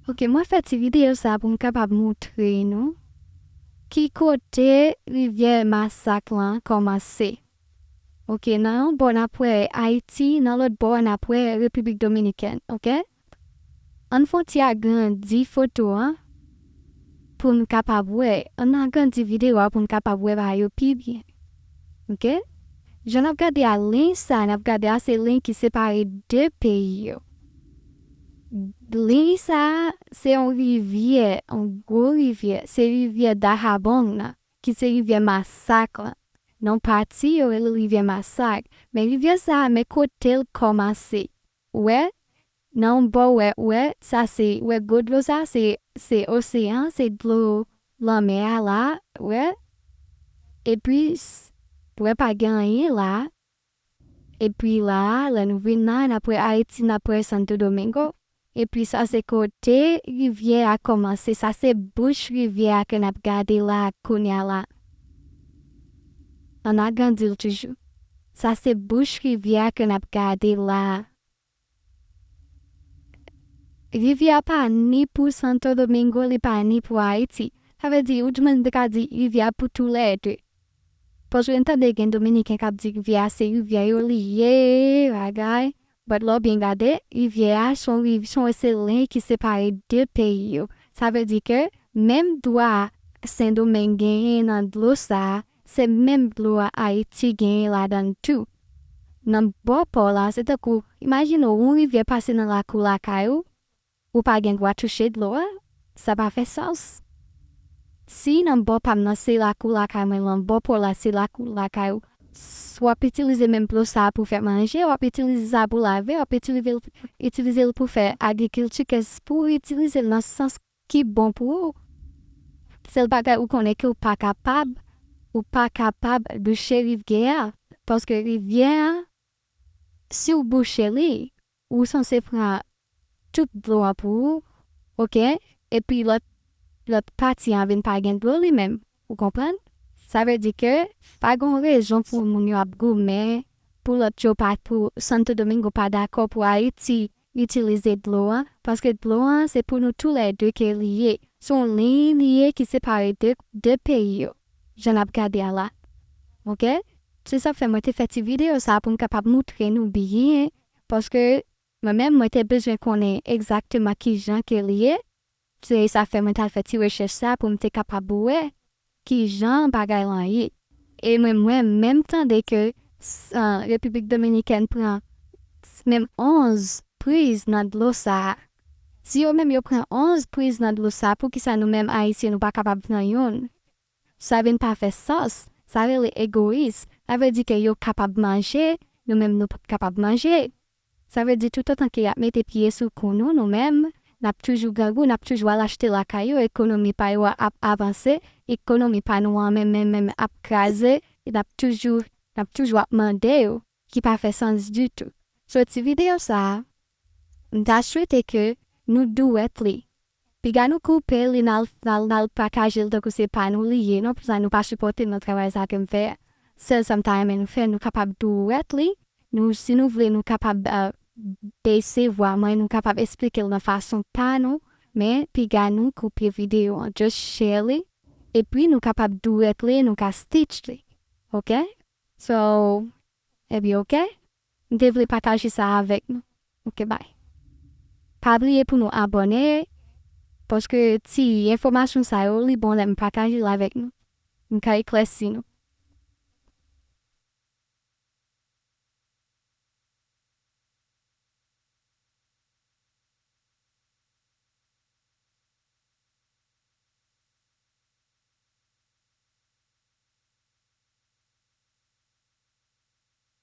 Ok mwen fè ti video sa pou m kapab moutre nou ki kote rivyè masak lan kòmanse ok nan yon bò nap wè ayiti nan lòt bò a nap wè repiblik dominikèn ok ann fon ti agrandi foto an pou n kapab wè ann agrandi video a pou n kapab wè bagay yo pi byen ok jan nap gade a liy sa nap gade a se liy ki separe 2 peyi yo Liy sa a se yon rivyè, yon gwo rivyè, se rivyè Dahabong nan, ki se rivyè masak lan. Nan pati yo rele l rivyè masak. Men rivyè sa a, men kote l kòmanse. Ou wè? Nan yon bò ou wè, ou wè, sa se, ou wè gwo dlo sa a, se, se oseyan, se dlo lanmè a la a, ou wè? Epi, ou wè pa gen anyen la a. Epi la a, lè nou vin la a, n ap wè Ayiti, n ap wè Santo Domingo. Epi sa se kote rivyè a kòmanse. Sa se bouch rivyè a ke n ap gade la a kounye a la. An n agrandi l toujou. Sa se bouch rivyè a ke n ap gade la a. Rivyè a pa ni pou Santo Domingo li pa ni pou Ayiti. Sa vle di ou di moun te ka di rivyè a pou tou lè 2. Paske m tande gen dominiken k ap di rivyè a se rivyè yo li ye bagay but lè w byen gade rivyè a s on riv s on e se liy ki separe 2 peyi yo. Sa vle di ke menm dwa Sendomeng genyen nan dlo sa Se menm dlo a Ayiti genyen ladann tou. Nan bò pò la se tankou imajine w yon rivyè pase nan lakou lakay ou, ou pa gen dwa touche dlo a, sa pa fè sans. Si nan bò pa m nan se lakou lakay mwen lan bò pò la se lakou lakay ou, s w ap itilize menm dlo sa a pou fè manje, w ap itilize sa pou lave, w ap itilize l pou fè agrikilti ke s pou w itilize l nan sans ki bon pou ou sèl bagay ou konnen ke ou pa kapab ou pa kapab bouche rivyè a paske rivyè a si ou bouche li ou sanse pran tout dlo a pou ou ok epi lòt lòt pati a vin pa gen dlo li menm ou konprann sa vle di ke pa gon rezon pou moun yo ap goumen pou lòt yo pa pou santo domingo pa dakò pou ayiti itilize dlo a paske dlo a se pou nou tou lè 2 ke li ye se yon liy li ye ki separe 2 2 peyi yo jan nap gade a la ok se sak fè mwen te fè ti video sa poum kapab moutre nou byen paske mwen menm mwen te bezwen konnen egzakteman kijan ke li ye Se sa k fè mwen t al fè ti rechèch sa pou m te kapab wè ki jan bagay lan ye. E mwen mwen menm tande ke Repiblik Dominikèn pran menm 11 priz nan dlo sa a. Si yo menm yo pran 11 priz nan dlo sa a, poukisa nou menm Ayiti nou pa kapab pran youn? Sa vin pa fè sans, sa rele egoyis, sa vle di ke yo kapab manje, nou menm nou pap kapab manje. Sa vle di toutotan ke yap mete pye sou kou nou, nou menm, nap toujou grangou, nap toujou al achte lakay yo, ekonomi pa yo a ap avanse, ekonomi pa nou an menm menm menm ap kraze, e nap toujou, nap toujou ap mande yo, ki pa fè sans ditou. Sou ti video sa a, M ta swete ke nou duet li. Piga nou koupe li nal nal patajel tankou se pa nou li ye non pou sa nou pa sipòtem nan travay sa kem fè a sèl sam ta renmen nou fè nou kapab duet li nou si nou vle nou kapab bese vwa mwen nou kapab esplikel nan fason pa nou men piga nou koupe video an just share li epi nou kapab duet li nou ka stitch li ok so epi ok. M te vle pataje sa avèk nou ok bye. Pa bliye pou nou abòne paske ti enfòmasyon sa yo li bon lèm pataje l avèk nou m ka eklèsi nou.